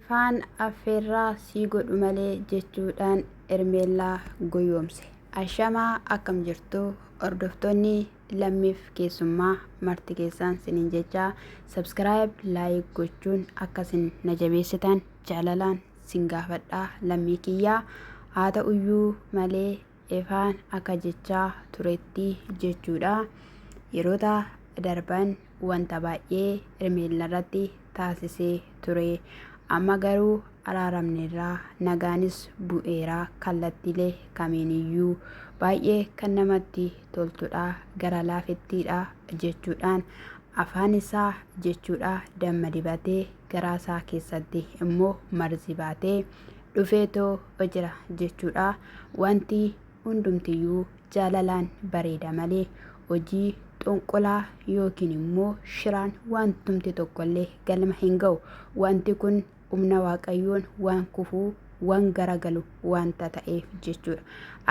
Ifaan affeerraa sii godhu malee jechuudhaan Hermeellaa goyoomse. Ashamaa akkam jirtu hordoftoonni lammiif keessummaa marti keessaan sinin jechaa subscribe like gochuun akkasin na jabeessitan jaalalaan sin gaafadhaa lammii kiyyaa haa ta'uyyuu malee Efaan akka jechaa turetti jechuudha. Yeroota darban wanta baay'ee Hermeellarratti taasisee ture. Amma garuu araaramneerra, nagaanis bu'eera kallattiilee kamiiniyyuu. Baay'ee kan namatti toltudha, gara laafettiidha jechuudhaan afaan isaa jechuudha damma dibatee garaa isaa keessatti immoo marzi baatee dhufeetoo jira jechuudha. Wanti hundumtiyyuu jaalalaan bareeda malee hojii xonqolaa yookiin immoo shiraan wantumti tokkollee galma hin ga'u. Wanti kun humna waaqayyoon waan kufuu waan garagalu wanta ta'eef jechuudha.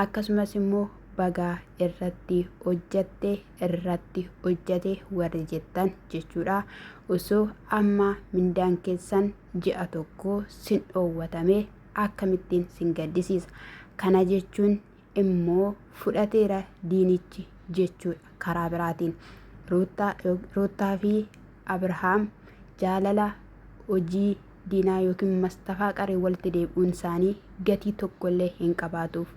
Akkasumas immoo bagaa irratti hojjatte irratti hojjate warri jettan jechuudha. Osoo amma mindaan keessan ji'a tokko sin dhoowwatame akkamittiin sin gaddisiisa? Kana jechuun immoo fudhateera diinichi jechuudha. Karaa biraatiin Ruuttaa yo- Ruuttaa fi Abrahaam jaalala hojii diinaa yookiin mastafaa qaree walitti deebi'uun isaanii gatii tokkollee hin qabaatuuf.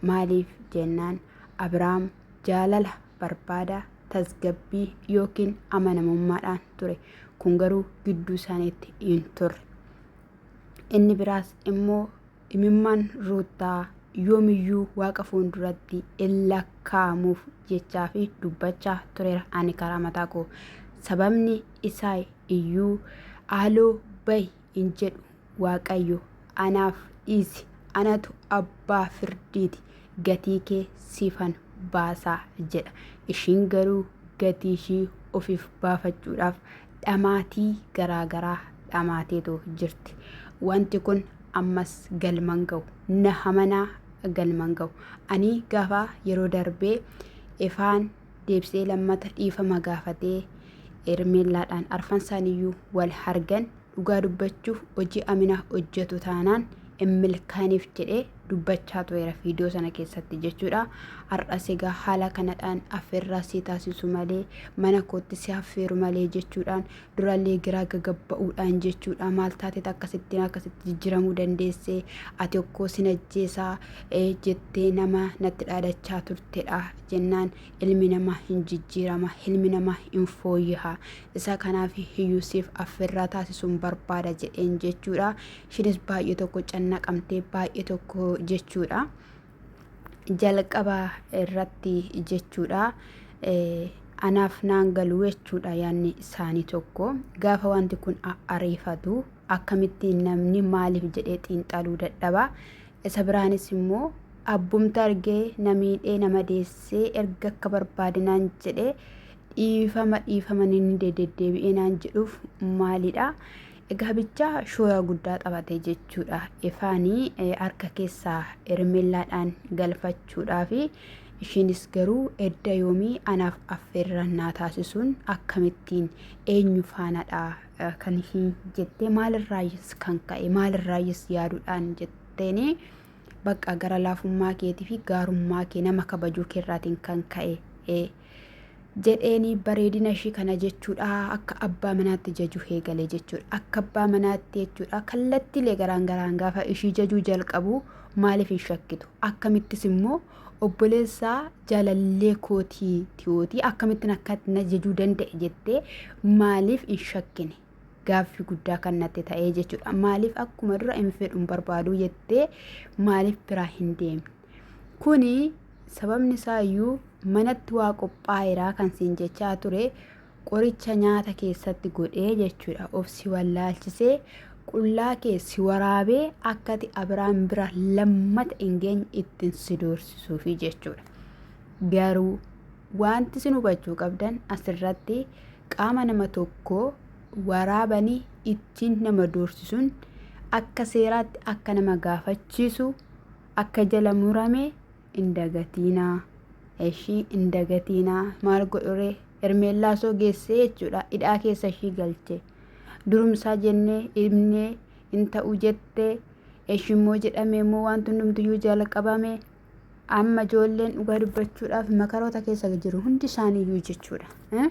Maaliif jennaan Abrahaam jaalala barbaada tasgabbii yookiin amanamummaadhaan ture. Kun garuu gidduu isaaniitti hin turre. Inni biraas immoo imimmaan Ruuttaa yoomiyyuu Waaqa fuulduratti in lakkaa'amuuf jechaa fi dubbachaa tureera ani karaa mataa koo. Sababni isaa iyyuu haaloo bahi hin jedhu waaqayyo anaaf dhiisi anatu abbaa firdiiti gatii kee siifan baasa jedha ishiin garuu gatii ishii ofiif baafachuudhaaf dhamaatii garaa garaa dhamaateetu jirti wanti kun ammas galman ga'u na hamanaa galman ga'u ani gaafa yeroo darbee ifaan deebisee lammata dhiifama gaafatee Hermeellaadhaan arfansaaniyyuu wal hargan dhugaa dubbachuuf hojii Amina hojjetu taanaan hin milkaaniif jedhee dubbachaa tureera viidiyoo sana keessatti jechuudha. Har'as egaa haala kanadhaan affeerraa si taasisu malee mana kootti si affeeru malee jechuudhaan durallee giraa gagabba'uudhaan jechuudha maal taatet akkasittiin akkasitti jijjiramuu dandeesse ati okkoo sin ajjeesaa ee jettee nama natti dhaadachaa turtedha jennaan ilmi nama hin jijjiirama ilmi nama hin fooyyaha isa kanaaf hiyyuu siif affirraa taasisuun barbaada jedheen jechuudha ishinis baay'ee tokko cannaqamtee baay'ee tokko jechuudha. jalqaba irratti jechuudha anaaf naan galu jechuudha yaanni isaanii tokko gaafa wanti kun ariifatu akkamittiin namni maaliif jedhee xiinxaluu dadhaba isa biraanis immoo abbumta argee namiidhee nama deessee erga akka barbaadinaan jedhee dhiifama dhiifama inni deddeebi'ee naan jedhuuf maalidha Egaa bichaa shoora guddaa taphate jechuudha. Efaanii harka keessaa Ermellaadhaan galfachuudhaafi isheenis garuu edda yoomii anaaf affeerra naa taasisuun akkamittiin eenyu faanadha kan ishiin jettee maalirraayyis kan ka'e maalirraayyis yaaduudhaan jetteeni bakka gara laafummaa keetii fi gaarummaa kee nama kabajuu keerraatiin kan ka'e jedheeni bareedina ishii kana jechuudha akka abbaa manaatti jajuu eegale jechuudha akka abbaa manaatti jechuudha kallattiilee garaan garaan gaafa ishii jajuu jalqabu maaliif hin shakkitu akkamittis immoo obboleessaa jaalallee kootii tiyootii akkamittiin akka na jajuu danda'e jettee maaliif hin shakkine gaaffii guddaa kan natti ta'ee jechuudha. Maaliif akkuma dura hin fedhu hin barbaadu jettee maaliif biraa hin deemne? Kuni sababni isaa iyyuu manatti waa qophaa'eeraa kan siin jechaa ture qoricha nyaata keessatti godhee jechuudha. Of si wallaalchisee qullaa kee si waraabee akkati abiraan bira lammata hin geenye ittiin si doorsisuufi jechuudha. Garuu wanti sin hubachuu qabdan asirratti qaama nama tokkoo waraabanii ittiin nama doorsisuun akka seeraatti akka nama gaafachiisu akka jala murame hin dagatiinaa. Eshii hin dagatiinaa maal godhuree Hermeellaa soo geessee jechuudha hidhaa keessa ishii galche. Durumsaa jennee dhibnee hin ta'u jettee eshimmoo jedhamee immoo wanti hundumtiyyuu jalqabame. Amma ijoolleen dhugaa dubbachuudhaaf makaroota keessa jiru hundi isaaniiyyuu jechuudha. Eh?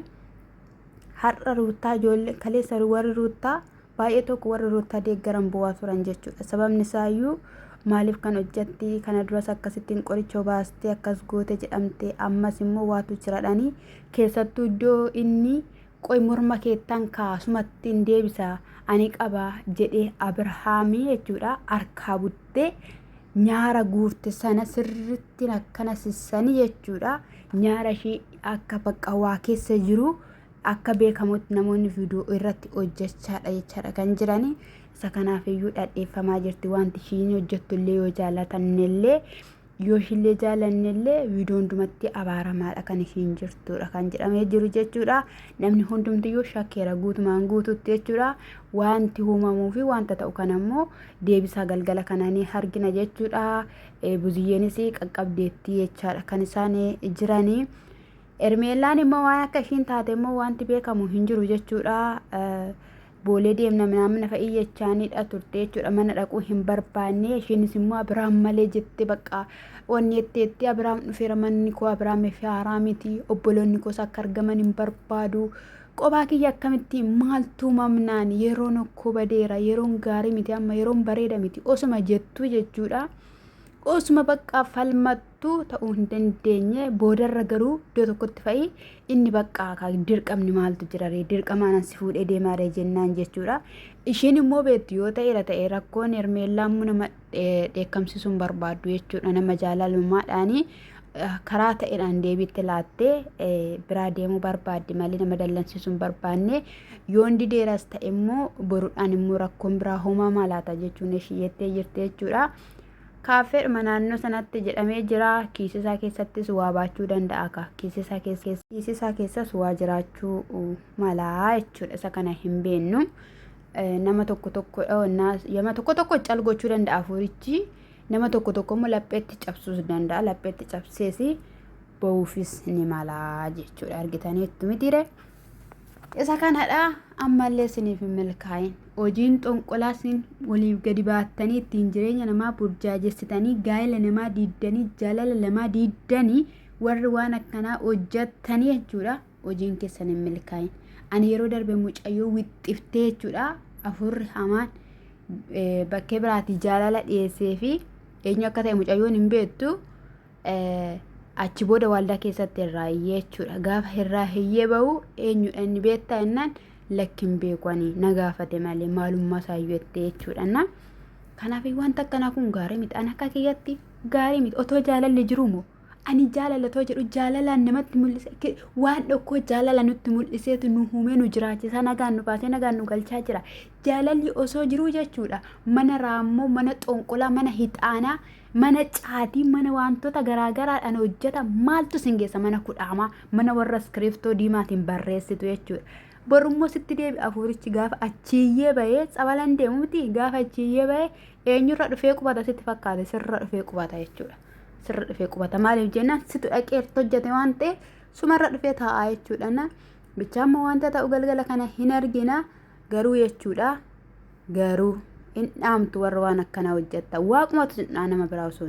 Har'a ruuttaa ijoollee kaleessa warri ruuttaa baay'ee tokko warri ruuttaa deeggaran bu'aa turan jechuudha. Sababni isaayyuu maaliif kan hojjetti kana duras akkasittiin qoricha obaastee akkas goote jedhamte ammas immoo waatu jiradhanii keessattuu iddoo inni qoy morma keettan kaasumatti hin deebisa ani qaba jedhee Abirhaamii jechuudha harkaa budde. guurte nyaara guurte sana sirritti akkana sissani jechuudha. Nyaara ishii akka bakka waa keessa jiru akka beekamutti namoonni viidiyoo irratti hojjechaadha jechaadha kan jirani. Isa kanaaf iyyuu dhadheeffamaa jirti wanti ishiin hojjettu illee yoo jaalatannellee yoo ishillee jaalannellee viidiyoo hundumatti abaaramaadha kan isiin jirtudha kan jedhamee jiru jechuudha namni hundumtiyyuu shakkeera guutumaan guututti jechuudha wanti uumamuu fi wanta ta'u kan ammoo deebisaa galgala kana ni argina jechuudha buziyyeenis qaqqabdeettii jechaadha kan isaan jiranii ermeellaan immoo waan akka ishiin taate immoo wanti beekamu hin jiru jechuudha boolee deemna minaammina fa'ii jechaaniidha turte jechuudha mana dhaquu hin barbaanne isheenis immoo abiraam malee jette bakka wanni jetteetti abiraam dhufeera manni koo abiraamii fi haaraa miti obboloonni koos akka argaman hin barbaadu qobaa kiyya akkamitti maaltuu mamnaan yeroon okkoo badeera yeroon gaarii miti amma yeroon bareeda miti osuma jettuu jechuudha osuma bakka falmattu tu ta'uu hin dandeenye boodarra garuu iddoo tokkotti fa'i inni baqqaa kaa dirqamni maaltu jiraree dirqamaanan si fuudhee deemaaree jennaan jechuudha. Isheen immoo beektu yoo ta'eera ta'e rakkoon hermeellaa immoo nama eh, dheekkamsiisuu hin barbaaddu jechuudha nama jaalalummaadhaanii eh, karaa ta'eedhaan deebiitti laattee eh, biraa deemuu barbaaddi malee nama dallansiisuu hin barbaanne yoon dideeras ta'e immoo boruudhaan immoo rakkoon biraa hoomaa maalaata jechuun ishii jettee jirti jechuudha. Kaaffeedhuma naannoo sanatti jedhamee jira. Kiisisaa keessattis waa baachuu danda'a ka. Kiisisaa keessa kiisisaa keessas waa jiraachuu uh, malaa jechuudha. Isa kana hin beennu. Eh, Nama tokko tokko oh, na- nama tokko tokko cal gochuu danda'a hafuurichi. Nama tokko tokko immoo lapheetti cabsuus danda'a. Lapheetti cabsees ba'uufis ni malaa jechuudha. Argitaniittu mitiire. Isa kanadha ammallee siniif hin milkaa'in. Hojiin xonqolaa sin waliif gadi baattanii ittiin jireenya namaa burjaajessitanii gaa'ela namaa diiddanii jaalala namaa diiddanii warri waan akkanaa hojjattanii jechuudha hojiin keessan hin milkaa'in. Ani yeroo darbe mucayyoo wixxiftee jechuudha afurri hamaan bakkee biraatii jaalala dhiyeessee fi eenyu akka ta'e mucayyoon hin beektu. achi booda waaldaa keessatti irraa hiyyee jechuudha. Gaafa irraa hiyyee bahu eenyudha inni beektaa jennaan lakkin beeku ani na gaafate malee maalummaa isaayyuu jettee jechuudha. Na kanaaf wanta akkanaa kun gaarii miti. Ani akka kiyyatti gaarii miti. Otoo jaalalli jiru moo ani jaalala otoo jedhu jaalalaan namatti mul'isa waan dhokkoo jaalala nutti mul'iseetu nu humee nu jiraachisaa nagaan nu baasee nagaan nu galchaa jira. Jaalalli osoo jiruu jechuudha mana raammoo mana xonqolaa mana hixaanaa mana caatii mana wantoota garaagaraadhaan hojjeta maaltu sin geessa mana kudhaamaa mana warra iskiriiftoo diimaatiin barreessitu jechuudha. Borummoo sitti deebi afuurichi gaafa achiiyyee bahee tsabalan deemu miti gaafa achiiyyee bahee eenyurra dhufee qubata sitti fakkaate sirra dhufee qubata jechuudha. Sirra dhufee qubata maaliif jennaan situ dhaqee irratti hojjete waan ta'eef sumarra dhufee taa'aa jechuudha. Bichaa immoo wanta ta'u galgala kana hin argina garuu jechuudha. Garuu hin dhaamtu warra waan akkanaa hojjattan. Waaqumatu sin dhaa nama biraa osoo